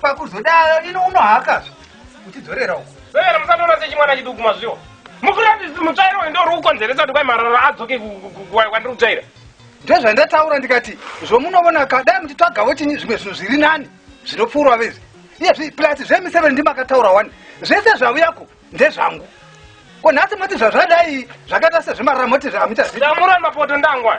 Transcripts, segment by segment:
pakuzodaro ini unohakazve uchidzorera uko vevera musatoona sechimwana chiduku mazviwo mukuratidzi mutsvairo uyu ndori kukonzeresa kuti kwai marara adzoke kwandiri kutsvaira ndozvandataura ndikati zvomunovona ka dai muchitsvagavo chinyi zvimwe zvinhu zviri nani zvinopfuurwa vezi iyezvi plus zvemiseve ndimakataura wani zvese zvavuyako ndezvangu ko nhasi moti zvazvadai zvakaita sezvemarara moti hamuchaziamurani mapoto ndangwa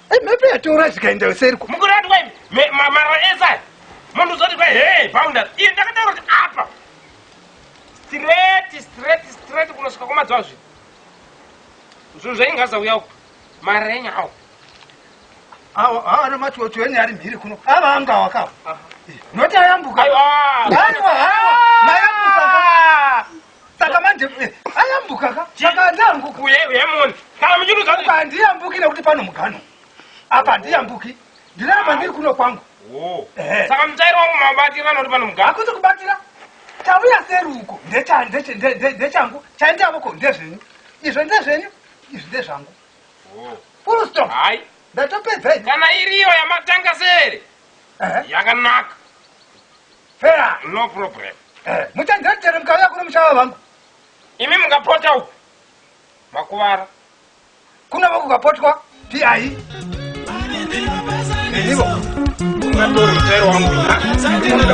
mhepo yatora zvikaenda yoseriko mukuratwa marwa ese aya munhu uzoti kwa hee bounders iri ndakataura kuti apa straight straight straight kunosvika kwamadziwa zvi zvinhu zvaingaza uya uku marenya awo awo awo ana machocho ene ari mhiri kuno ava anga wakawa noti ayambuka aiwa aiwa mayambuka saka manje eh, ayambuka ka saka handiambuki uye uye moni kana muchiruza kuti apa handiyambuki nekuti pano mugano apa handiyambuki ndiramba ndiri kuno kwangu oh Ehe. saka mutairo wangu mabatirana kuti pano mugano hakuti kubatira chauya seruko ndecha- ndeche- nde- nde- ndechangu chaindavoko ndezvenyu izvo ndezvenyu izvi ndezvangu oh full stop hayi ndatopedza ini kana iriyo yamatanga sere Ehe. yakanaka Fair. No problem. Eh, muchanzira chero mukauya kuno mushava vangu. Imi mukapota uku. Makuvara. Kuno voku kapotwa. Piai. Nenivo. Ungatori mutero wangu.